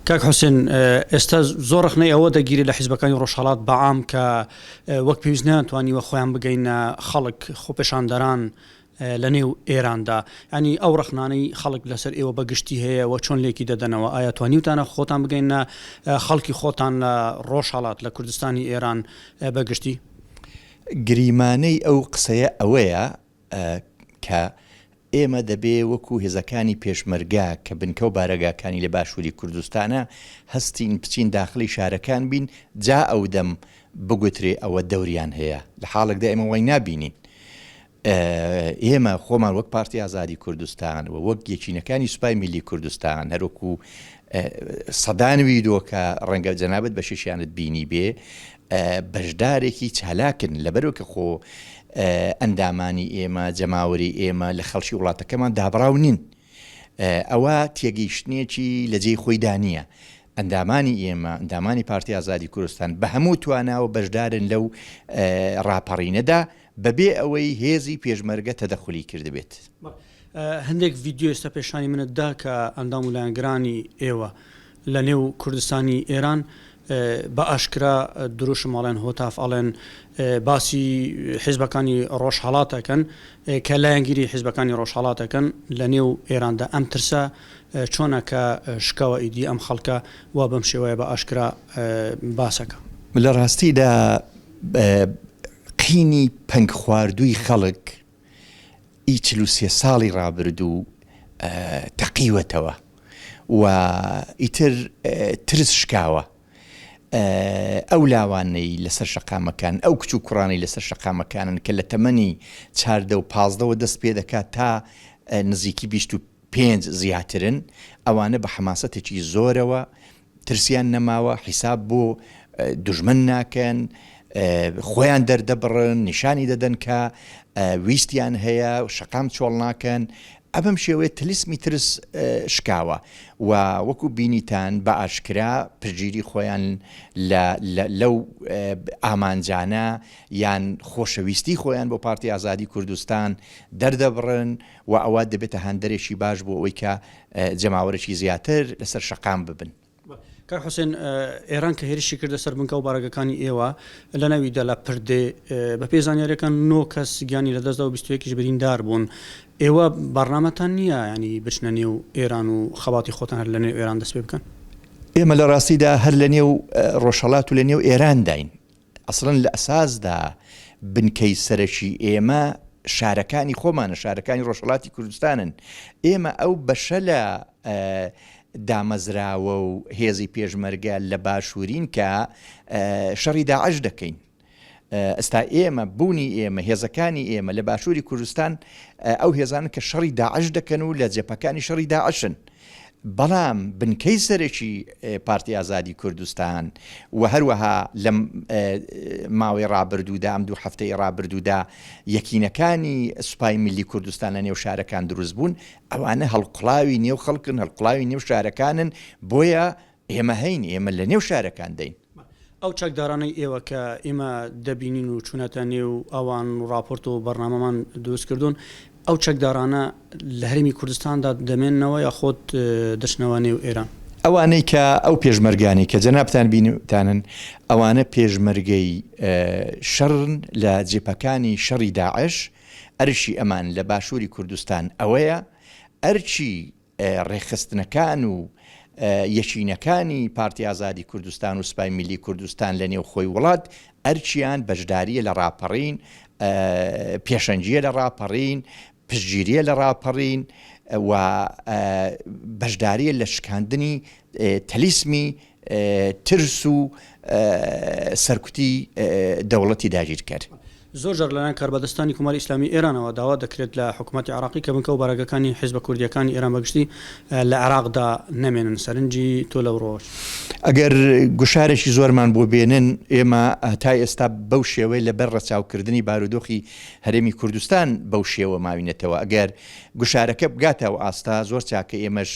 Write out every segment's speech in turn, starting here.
کاک حوسێن ئێستا زۆر ڕەخنەی ئەوە دەگیرێت لە حیزبەکانی ڕۆژهەڵات بە عام کە وەک پێویست نەیانتوانیوە خۆیان بگەینە خەڵک خۆپێشاندەران لە نێو ئێراندا یانی ئەو ڕەخنانەی خەڵک لەسەر ئێوە بە گشتی هەیە و چۆن لێکی دەدەنەوە ئایا توانیوتانە خۆتان بگەینە خەڵکی خۆتان لە ڕۆژهەڵات لە کوردستانی ئێران بە گشتی؟ گریمانەی ئەو قسەیە ئەوەیە ە کە ئێمە دەبێ وەکوو هێزەکانی پێشمەرگە کە بنکە و بارەگاکانی لە باشووری کوردستانە هەستین بچین داخڵی شارەکان بین جا ئەودەم بگوترێ ئەوە دەوریان هەیە لە حاڵێکدا ئێمە وای نابینین ئێمە خۆمان وەک پارتی ئازادی کوردستان و وەک یەکینەکانی سوپای میللی کوردستان هەر وەکوو سەدان ویدۆ کە ڕەنگە جەنابت بەشیشیانت بینیبێ بەشدارێکی چالاکن لەبەرو کە خۆ ئەندامانی ئێمە جەماوەری ئێمە لە خەڵکی وڵاتەکەمان دابڕاو نین ئەوە تێگەیشتنێکی لە جێی خۆی دانیە ئەندامانی ئێمە ئەندامانی پارتی ئازادی کوردستان بە هەموو تواناوە بەشدارن لەو ڕاپەڕینەدا بەبێ ئەوەی هێزی پێشمەرگە تەدەخلی کردبێت هەندێک ڤیدیۆ ئێستا پێشانی منت دا کە ئەندام و لایەنگرانی ئێوە لە نێو کوردستانی ئێران بە ئاشکرا دروشم ئەڵێن هۆتاف ئەڵێن باسی حیزبەکانی ڕۆژهەڵات ئەکەن کە لایەنگیری حیزبەکانی ڕۆژهەڵات ئەکەن لە نێو ئێراندا ئەم ترسە چۆنە کە شکاوە ئیدی ئەم خەڵکە وا بەم شێوەیە بە ئاشکرا باسەکە لە ڕاستیدا قینی پەنگ خواردووی خەڵک ی چل و سێ ساڵی ڕابردوو تەقیوەتەوە و ئیتر ترس شکاوە. ئەو لاوانەی لەسەر شەقامەکانن، ئەو کچ و کوڕانەی لەسەر شەقامەکانن کە لە تەمەنی چاردە و پازدەوە دەست پێ دەکات تا نزیکی بیست و پێنج زیاترن، ئەوانە بە حەماسەتێکی زۆرەوە ترسیان نەماوە حیساب بۆ دوژمن ناکەن خۆیان دەردەبڕن نیشانی دەدەن کە ویستیان هەیە شەقام چۆڵ ناکەن ئەبەم شێوەیە تلسمی ترس شکاوە و وەکو بینیتان بە ئاشکرا پژگیری خۆیان لەو ئامانجانە یان خۆشەویستی خۆیان بۆ پارتی ئازادی کوردستان دەردەبڕن وە ئەوە دەبێتە هاندەرێکی باش بۆ ئەوەی کە جەماوەرێکی زیاتر لەسەر شەقام ببن. کاک حوسێن ئێران کە هێرشی کردە سەر بنکە و بارەگەکانی ئێوە لە ناوی دەلە پردێ بە پێی زانیاریەکان نۆ کەس گیانی لە دەستدا و بیستوەکیش بریندار بوون ئێوە بەڕنامەتان نییە ینی بچنە نێو ئێران و خەباتی خۆتان هەر لە نێو ئێران دەست پێ بکەن؟ ئێمە لە ڕاستیدا هەر لە نێو ڕۆژهەڵات و لە نێو ئێرانداین ئەسڵەن لە ئەساسدا بنکەی سەرەکی ئێمە شارەکانی خۆمانە، شارەکانی ڕۆژهەڵاتی کوردستانن. ئێمە ئەو بەشە لە دامەزراوە و هێزی پێشمەرگە لە باشوورین کە شەڕی داعش دەکەین. ئێستا ئێمە بوونی ئێمە، هێزەکانی ئێمە لە باشووری کوردستان ئەو هێزانن کە شەڕی داعش دەکەن و لە جەبهەکانی شەڕی داعشن. بەڵام بنکەی سەرەکی پارتی ئازادی کوردستان و هەروەها لەم ماوەی ڕابردوودا ئەم دوو هەفتەی ڕابردوودا یەکینەکانی سوپای ملی کوردستان لە نێو شارەکان دروست بوون ئەوانە هەڵقڵاوی نێو خەڵکن هەڵقڵاوی نێو شارەکانن بۆیە ئێمە هەین، ئێمە لە نێو شارەکانداین. ئەو چەکدارانەی ئێوە کە ئێمە دەبینین و چوونەتە نێو ئەوان و ڕاپۆرت و بەرنامەمان دروست کردوون، ئەو چەکدارانە لە هەرێمی کوردستاندا دەمێننەوە یا خود دەچنەوە نێو ئێران؟ ئەوانەی کە ئەو پێشمەرگانەی کە جەنابتان بینتانن، ئەوانە پێشمەرگەی شەڕن لە جبهەکانی شەڕی داعش، ئەرشی ئەمان لە باشووری کوردستان ئەوەیە، ئەرکی ڕێکخستنەکان و یەکینەکانی پارتی ئازادی کوردستان و سپای میللی کوردستان لە نێوخۆی وڵات ئەرکیان بەشدارییە لە ڕاپەڕین، پێشەنگییە لە ڕاپەڕین، پشتگیرییە لە ڕاپەڕین و بەشدارییە لە شکاندنی تەلیسمی ترس و سەرکوتی دەوڵەتی داگیرکەر. زۆر جار لەلایەن کاربەدەستانی کۆماری ئیسلامیی ئێرانەوە داوا دەکرێت لە حکوومەتی عێراقی کە بنکە و بارەگاکانی حیزبە کوردییەکانی ئێران بەگشتی لە عێراقدا نەمێنن. سەرنجی تۆ لەوڕۆوە چییە؟ ئەگەر گوشارێکی زۆرمان بۆ بێنن، ئێمە تا ئێستا بەو شێوەیە لەبەر ڕەچاوکردنی بارودۆخی هەرێمی کوردستان بەو شێوە ماوینەتەوە. ئەگەر گوشارەکە بگاتە ئەو ئاستە، زۆر چاکە ئێمەش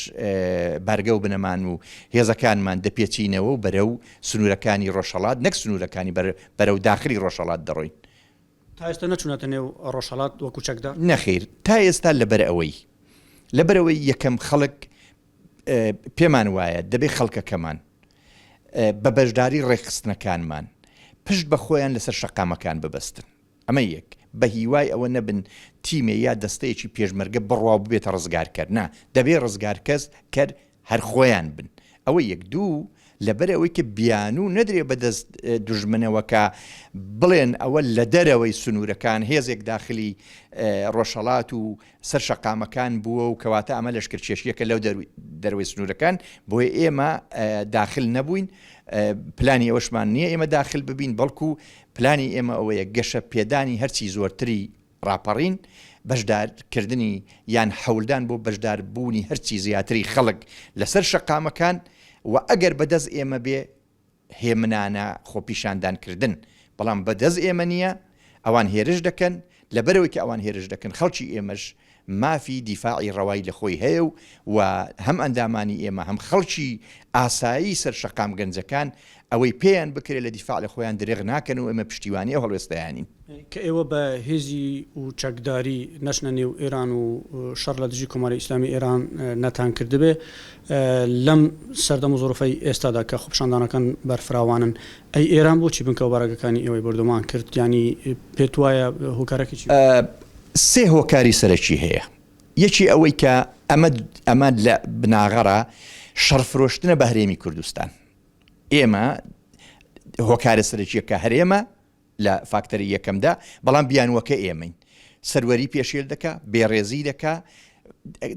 بارگە و بنەمان و هێزەکانمان دەپێچینەوە و بەرەو سنوورەکانی ڕۆژهەڵات نەک سنوورەکانی بەرەو داخلی ڕۆژهەڵات دەڕۆین. تا ئێستا نەچوونەتە نێو ڕۆژهەڵات وەکو چەکدا؟ نەخیر، تا ئێستا لەبەرئەوەی لەبەرئەوەی یەکەم خەڵک پێمان وایە دەبێ خەڵکەکەمان بە بەشداری ڕێکخستنەکانمان پشت بە خۆیان لەسەر شەقامەکان ببەستن. ئەمە یەک، بەهیوای ئەوە نەبن تیمێ یا دەستەیەکی پێشمەرگە بڕوا و ببێتە ڕزگارکەر، نا، دەبێ ڕزگارکەر کەر هەر خۆیان بن، ئەوە یەک، دوو، لەبەر ئەوەی کە بیانوو نەدرێ بە دەست دوژمنەوە کە بڵێن ئەوە لە دەرەوەی سنوورەکان هێزێک داخلی ڕۆژهەڵات و سەر شەقامەکان بووە و کەواتە ئەمە لەشکرکێشییەکە لەو دەرەوەی سنوورەکان، بۆیە ئێمە داخل نەبووین، پلانی ئەوەشمان نییە ئێمە داخل ببین، بەڵکوو پلانی ئێمە ئەوەیە گەشە پێدانی هەرچی زۆرتری ڕاپەڕین، بەشدار کردنی یان حەولدان بۆ بەشدار بوونی هەرچی زیاتری خەڵک لەسەر شەقامەکان و ئەگەر بە دەست ئێمە بێ هێمنانە خۆپیشاندان کردن بەڵام بە دەست ئێمە نیە ئەوان هێرش دەکەن لەبەرئەوەی کە ئەوان هێرش دەکەن خەڵکی ئێمەش مافی دیفاعی ڕەوای لە خۆی هەیە و و هەم ئەندامانی ئێمە هەم خەڵکی ئاسایی سەر شەقام گەنجەکان ئەوەی پێیان بکرێ لە دیفاع لە خۆیان درێغ ناکەن و ئێمە پشتیوانی ئەو هەڵوێستەیانین. کە ئێوە بە هێزی و چەکداری نەچنە نێو ئێران و شەڕ لە دژی کۆماری ئیسلامی ئێران نەتان کردبێ لەم سەردەم و زوڕفەی ئێستادا کە خۆپیشاندانەکان بەرفراوانن ئەی ئێران بۆچی بنکەو بارەگەکانی ئێوەی بۆردۆمان کرد یانی پێت وایە هۆکارەکەی چی بوو؟ سێ هۆکاری سەرەکی هەیە یەکی ئەوەی کە ئەمە ئەمە لە بناغەڕا شەڕ فرۆشتنە بە هەرێمی کوردستان ئێمە هۆکارە سەرەکیەکە هەرێمە لە فاکتەری یەکەمدا بەڵام بیانوەکە ئێمەین سەروەری پێشێل دەکا، بێڕێزی دەکا،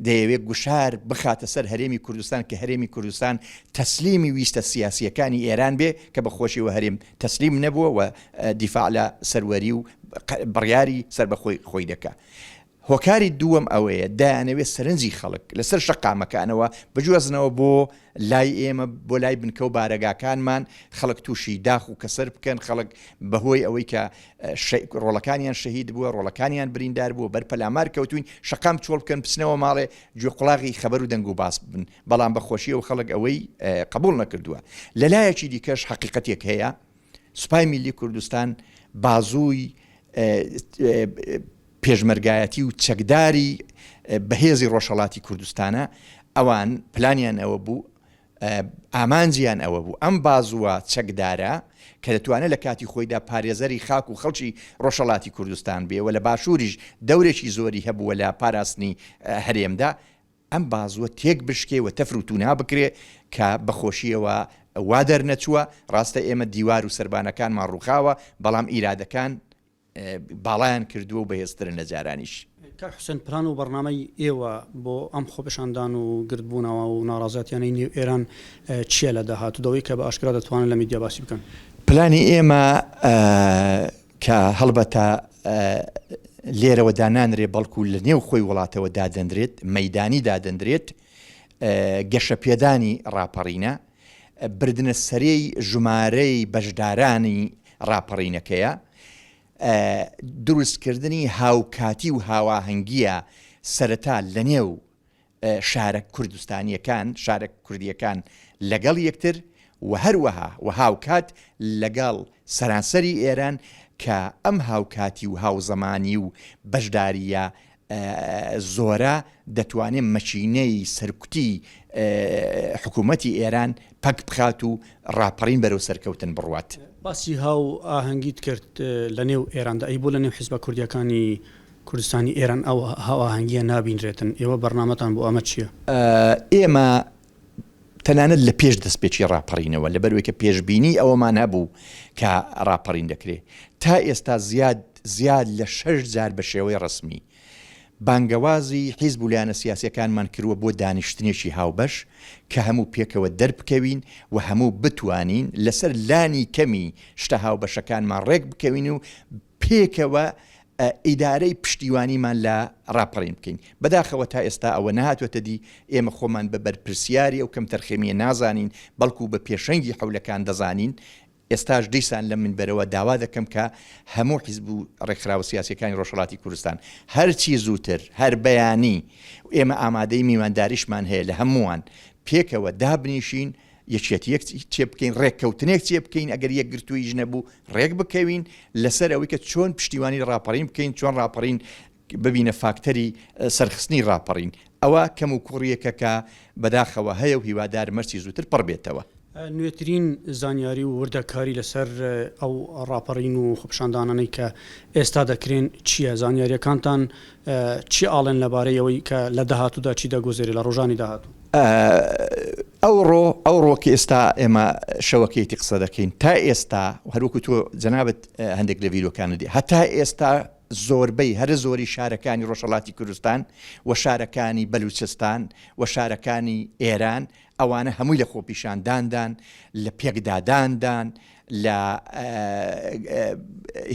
دەیەوێت گوشار بخاتە سەر هەرێمی کوردستان کە هەرێمی کوردستان تەسلیمی ویستە سیاسییەکانی ئێران بێ کە بە خۆشیەوە هەرێم تەسلیم نەبووە و دیفاع لە سەروەری و بڕیاری سەر بە خۆی خۆی دەکا. هۆکاری دووەم ئەوەیە دایانەوێت سەرنجی خەڵک لەسەر شەقامەکانەوە بجوازنەوە بۆ لای ئێمە بۆ لای بنکە و بارەگاکانمان خەڵک تووشی داخ و کەسەر بکەن خەڵک بەهۆی ئەوەی کە ڕۆڵەکانیان شەهید بووە ڕۆڵەکانیان بریندار بووە بەر پەلامار کەوتوین شەقام چۆڵ بکەن بچنەوە ماڵێ گوێ قوڵاغی خەبەر و دەنگ و باس بن بەڵام بەخۆشیە و خەڵک ئەوەی قبول نەکردووە لەلایەکی دیکەش حقیقەتێک هەیە سوپای میلی کوردستان بازووی پێشمەرگایەتی و چەکداری بەهێزی ڕۆژهڵاتی کوردستانە ئەوان پلانیان ئەوە بوو ئامانجیان ئەوە بوو ئەم بازووە چەکدارە کە دەتوانێت لە کاتی خۆیدا پارێزەری خاک و خەڵکی ڕۆژهەڵاتی کوردستان بێ و لە باشووریش دەورێکی زۆری هەبووە لە پاراستنی هەرێمدا ئەم بازووە تێک بشکێ و تەفر و تونا بکرێ کە بەخۆشیەوە وا دەرنەچووە ڕاستە ئێمە دیوار و سربانەکانمان ڕووخاوە بەڵام ئیرادەکان باڵایان کردووە و بەهێزترن لە جارانیش. کاک حوسێن پلان و بەڕنامەی ئێوە بۆ ئەم خۆپێشاندان و گردبوونەوە و ناڕازەتیانەی نێو ئێران چیە لە داهاتوو دەوەی کە بە ئاشکرا دەتوانن لە میدیا باسی بکەن؟ پلانی ئێمە کە هەڵبەتە لێرەوە دانانرێ بەڵکو لە نێو خۆی وڵاتەوە دادەنرێت مەیدانی دادەنرێت گەشەپێدانی ڕاپەڕینە، بردنە سەرێی ژمارەی بەشدارانی ڕاپەڕینەکەیە، دروستکردنی هاوکاتی و هاواهەنگییە سەرەتا لەنێو شارە کوردستانییەکان، شارە کوردییەکان لەگەڵ یەکتر و هەروەها و هاوکات لەگەڵ سەرانسەری ئێران کە ئەم هاوکاتی و هاوزەمانی و بەشدارییە زۆرە دەتوانێت مەکینەی سەرکوتی حکوومەتی ئێران پەک بخات و ڕاپەڕین بەرەو سەرکەوتن بڕوات. باسی هاوئاهەنگیت کرد لە نێو ئێراندا، ئەی بۆ لە نێو حیزبە کوردییەکانی کوردستانی ئێران ئەو هاوئاهەنگییە نابینرێتن؟ ئێوە بەرنامەتان بۆ ئەمە چییە؟ ئێمە تەنانەت لە پێش دەستپێکی ڕاپەڕینەوە، لەبەرئەوەی کە پێشبینیی ئەوەمان هەبوو کە ڕاپەڕین دەکرێت، تا ئێستا زیاد زیاد لە شەش جار بە شێوەی ڕەسمی، بانگەوازی حیزب و لایەنە سیاسییەکانمان کردووە بۆ دانیشتنێکی هاوبەش کە هەموو پێکەوە دەربکەوین و هەموو بتوانین لەسەر لانی کەمی شتە هاوبەشەکانمان ڕێکبکەوین و پێکەوە ئیدارەی پشتیوانیمان لە ڕاپەڕین بکەین. بەداخەوە تا ئێستا ئەوە نەهاتووەتە دی، ئێمە خۆمان بە بەرپرسیاری ئەو کەمتەرخەمییە نازانین، بەڵکو بە پێشەنگی حەولەکان دەزانین. ئێستاش دیسان لەم منبەرەوە داوا دەکەم کە هەموو حیزب و ڕێکخراوە سیاسییەکانی ڕۆژهەڵاتی کوردستان هەرچی زووتر، هەر بەیانی و ئێمە ئامادەی میوانداریشمان هەیە لە هەمووان، پێکەوە دابنیشین یەکێتیەک چێبکەین ڕێککەوتنێک چێبکەین ئەگەر یەکگرتوویش نەبوو ڕێک بکەوین لەسەر ئەوەی کە چۆن پشتیوانی ڕاپەڕین بکەین چۆن ڕاپەڕین ببینە فاکتەری سەرخستنی ڕاپەڕین ئەوە کەم و کوڕیەکە کە بەداخەوە هەیە و هیوادار مەرسی زووتر پڕ بێتەوە. نوێترین زانیاری و وردەکاری لەسەر ئەو ڕاپەڕین و خۆپیشاندانانەی کە ئێستا دەکرێن چییە؟ زانیارییەکانتان چی ئاڵێن لەبارەی ئەوەی کە لە داهاتوودا چی دەگوزەرێت لە ڕۆژانی داهاتوو؟ ئەوڕۆ، ئەوڕۆ کە ئێستا ئێمە شەوەکەیەتی قسە دەکەین، تا ئێستا هەر وەکو تۆ جەنابت هەندێک لە ڤیدیۆکانت دیت، هەتا ئێستا زۆربەی هەرە زۆری شارەکانی ڕۆژهەڵاتی کوردستان و شارەکانی بەلووچستان و شارەکانی ئێران ئەوانە هەمووی لە خۆپیشانداندان، لە پێکداداندان، لە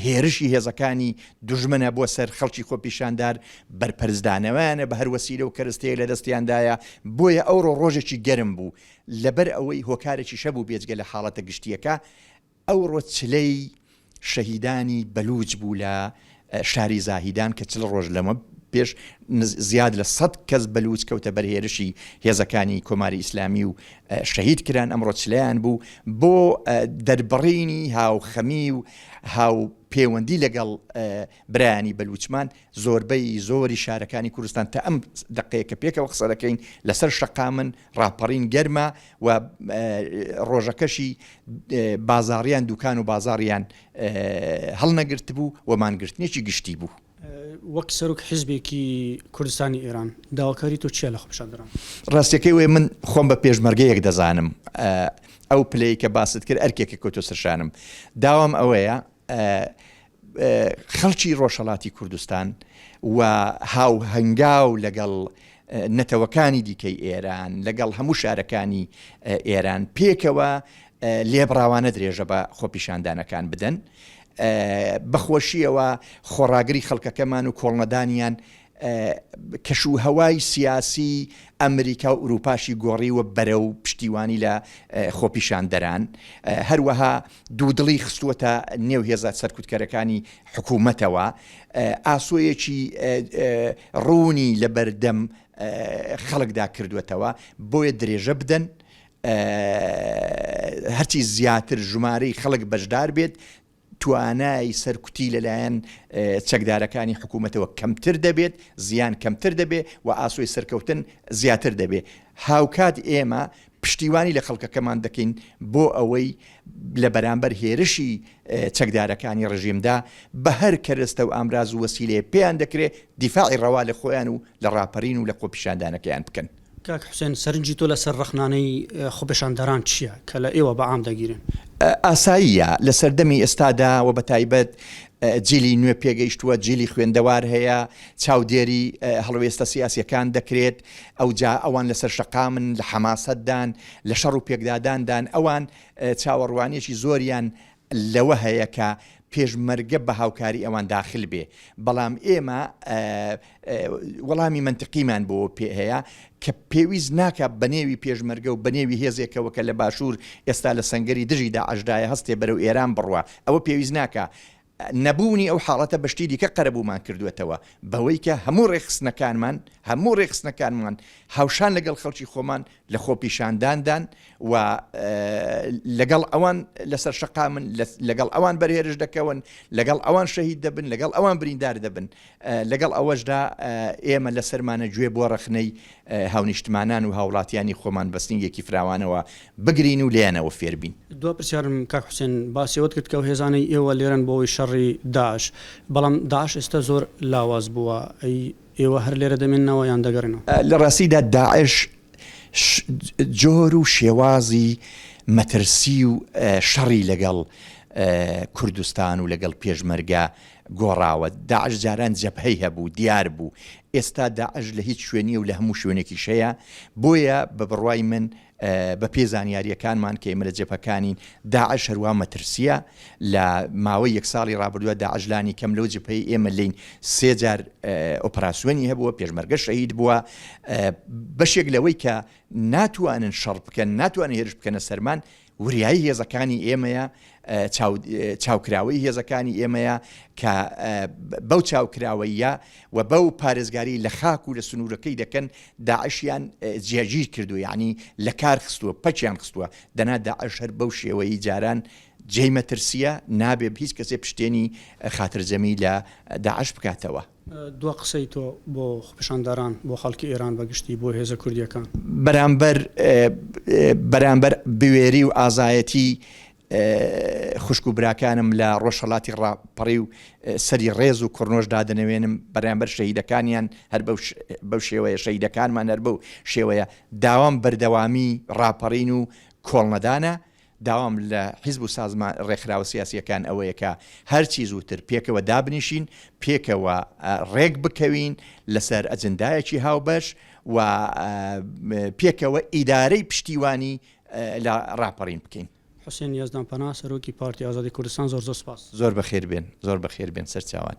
هێرشی هێزەکانی دوژمنە بۆ سەر خەڵکی خۆپیشاندار بەرپەرزدانەوەیانە بە هەر وەسیلە و کەرستەیە لە دەستیاندایە بۆیە ئەوڕۆ ڕۆژێکی گەرم بوو لەبەر ئەوەی هۆکارێکی شەبوو بێجگە لە حاڵەتە گشتیەکە ئەوڕۆ چلەی شەهیدانی بەلووج بوو لە شاری زاهیدان کە چل ڕۆژ لەمە پێش زیاد لە سەد کەس بەلووچ کەوتە بەر هێرشی هێزەکانی کۆماری ئیسلامی و شەهید کران ئەمڕۆ چلیان بوو بۆ دەربڕینی هاوخەمی و هاو پێوەندی لەگەڵ برایانی بەلوچمان زۆربەی زۆری شارەکانی کوردستان تا ئەم دقەیە کە پێکەوە قسە دەکەین لەسەر شەقامن ڕاپەڕین گەرمە و ڕۆژەکەشی بازاڕیان دوکان و بازاڕیان هەڵنەگرتبوو و مانگرتنێکی گشتی بوو. وەک سەرۆک حیزبێکی کوردستانی ئێران، داواکاری تۆ چیە لە خۆپیشاندەران؟ ڕاستیەکەی ئەوەیە من خۆم بە پێشمەرگەیەک دەزانم، ئەو پلەی کە باست کرد ئەرکێکە کەوتۆ سەر شانم. داوام ئەوەیە خەڵکی ڕۆژهەڵاتی کوردستان و هاوهەنگاو لەگەڵ نەتەوەکانی دیکەی ئێران، لەگەڵ هەموو شارەکانی ئێران پێکەوە لێبڕاوانە درێژە بە خۆپیشاندانەکان بدەن، بە خۆشییەوە خۆڕاگری خەڵکەکەمان و کۆڵنەدانیان کەشوهەوای سیاسیی ئەمریکا و ئورووپاشی گۆڕیوە بەرەو پشتیوانی لە خۆپیشاندەران، هەروەها دوودڵی خستووەتە نێو هێزە سەرکوتکەرەکانی حکوومەتەوە، ئاسۆیەکی ڕوونی لەبەردەم خەڵکدا کردووەتەوە، بۆیە درێژە بدەن هەرچی زیاتر ژمارەی خەڵک بەشدار بێت، توانای سەرکوتی لەلایەن چەکدارەکانی حکوومەتەوە کەمتر دەبێت، زیان کەمتر دەبێت و ئاسۆی سەرکەوتن زیاتر دەبێت. هاوکات ئێمە پشتیوانی لە خەڵکەکەمان دەکەین بۆ ئەوەی لە بەرامبەر هێرشی چەکدارەکانی ڕژیمدا بە هەر کەرەستە و ئامراز و وەسیلەیەک پێیان دەکرێت دیفاعی ڕەوا لە خۆیان و لە ڕاپەرین و لە خۆپیشاندانەکەیان بکەن. کاک حوسێن سەرنجی تۆ لەسەر ڕەخنانەی خۆپێشاندەران چییە کە لە ئێوە بە عام دەگیرێن؟ ئاساییە لە سەردەمی ئێستادا و بە تایبەت جیلی نوێ پێگەیشتووە، جیلی خوێندەوار هەیە، چاودێری هەڵوێستە سیاسییەکان دەکرێت، ئەوجا ئەوان لەسەر شەقامن، لە حەماسەتدان، لە شەڕ و پێکداداندان، ئەوان چاوەڕوانییەکی زۆریان لەوە هەیە کە پێشمەرگە بە هاوکاری ئەوان داخل بێ، بەڵام ئێمە وەڵامی مەنتقیمان بۆ پێ هەیە کە پێویست ناکا بە نێوی پێشمەرگە و بە نێوی هێزێکەوە کە لە باشوور ئێستا لە سەنگەری دژی داعشدایە هەستێ بەرەو ئێران بڕوا، ئەوە پێویست ناکا. نەبوونی ئەو حاڵەتە بە شتی دیکە قەرەبوومان کردووەتەوە بەوەی کە هەموو ڕێکخستنەکانمان، هەموو ڕێکخستنەکانمان هاوشان لەگەڵ خەڵکی خۆمان، لە خۆپیشانداندان و لەگەڵ ئەوان لەسەر شەقامن، لەگەڵ ئەوان بەرهێرش دەکەون، لەگەڵ ئەوان شەهید دەبن، لەگەڵ ئەوان بریندار دەبن. لەگەڵ ئەوەشدا ئێمە لە سەرمانە گوێ بۆ ڕەخنەی هاونیشتمانان و هاوڵاتیانی خۆمان بە سنگێکی فراوانەوە بگرین و لێیانەوە فێر بین. دوا پرسیارم کاک حوسێن، باسی ئەوەت کرد کە ئەو هێزانەی ئێوە لێرەن بۆ ئەوەی شەڕی داعش، بەڵام داعش ئێستا زۆر لاواز بووە، ئەی ئێوە هەر لێرە دەمێننەوە یان دەگەڕێنەوە؟ لە ڕاستیدا داعش جۆر و شێوازی مەترسی و شەڕی لەگەڵ کوردستان و لەگەڵ پێشمەرگە گۆڕاوە، داعش جاران جەبهەی هەبوو، دیار بوو، ئێستا داعش لە هیچ شوێنی و لە هەموو شوێنێکیش هەیە، بۆیە بە بڕوای من بە پێی زانیارییەکانمان کە ئێمە لە جبهەکانین، داعش هەروا مەترسییە، لە ماوەی یەک ساڵی ڕابردوودا داعش لانی کەم لەو جبهەی ئێمە لێین سێ جار ئۆپەراسیۆنی هەبووە، پێشمەرگە شەهید بووە، بەشێک لەوەی کە ناتوانن شەڕ بکەن، ناتوانن هێرش بکەنە سەرمان، وریایی هێزەکانی ئێمەیە، چاوکراوەی هێزەکانی ئێمەیە کە بەو چاوکراوەیە و بەو پارێزگاری لە خاک و لە سنوورەکەی دەکەن داعشیان جێگیر کردو یعنی لە کار خستووە پەکیان خستووە دەنا داعش هەر بەو شێوەی جاران جێی مەترسیە نابێ هیچ کەسێ پشتێنی خاترجەمی لە داعش بکاتەوە. دوا قسەی تۆ بۆ خۆپیشاندەران، بۆ خەڵکی ئێران بە گشتی، بۆ هێزە کوردییەکان. بەرامبەر بەرامبەر بوێری و ئازایەتی خوشک و براکانم لە ڕۆژهەڵاتی ڕاپەڕیو سەری ڕێز و کڕنۆش دادەنەوێنم بەرامبەر شەهیدەکانیان هەر بەو شێوەیە شەهیدەکانمان هەر بەو شێوەیە داوام بەردەوامی ڕاپەڕین و کۆڵنەدانە داوام لە حیزب و سازمان ڕێکخراوە سیاسییەکان ئەوەیە کە هەرچی زووتر پێکەوە دابنیشین، پێکەوە ڕێک بکەوین لەسەر ئەجندایەکی هاوبەش و پێکەوە ئیدارەی پشتیوانی لە ڕاپەڕین بکەین. حوسێن یەزدانپەنا، سەرۆکی پارتی ئازادی کوردستان، زۆر زۆر سپاس. زۆر بەخێربێن، زۆر بەخێربێن سەرچاوان.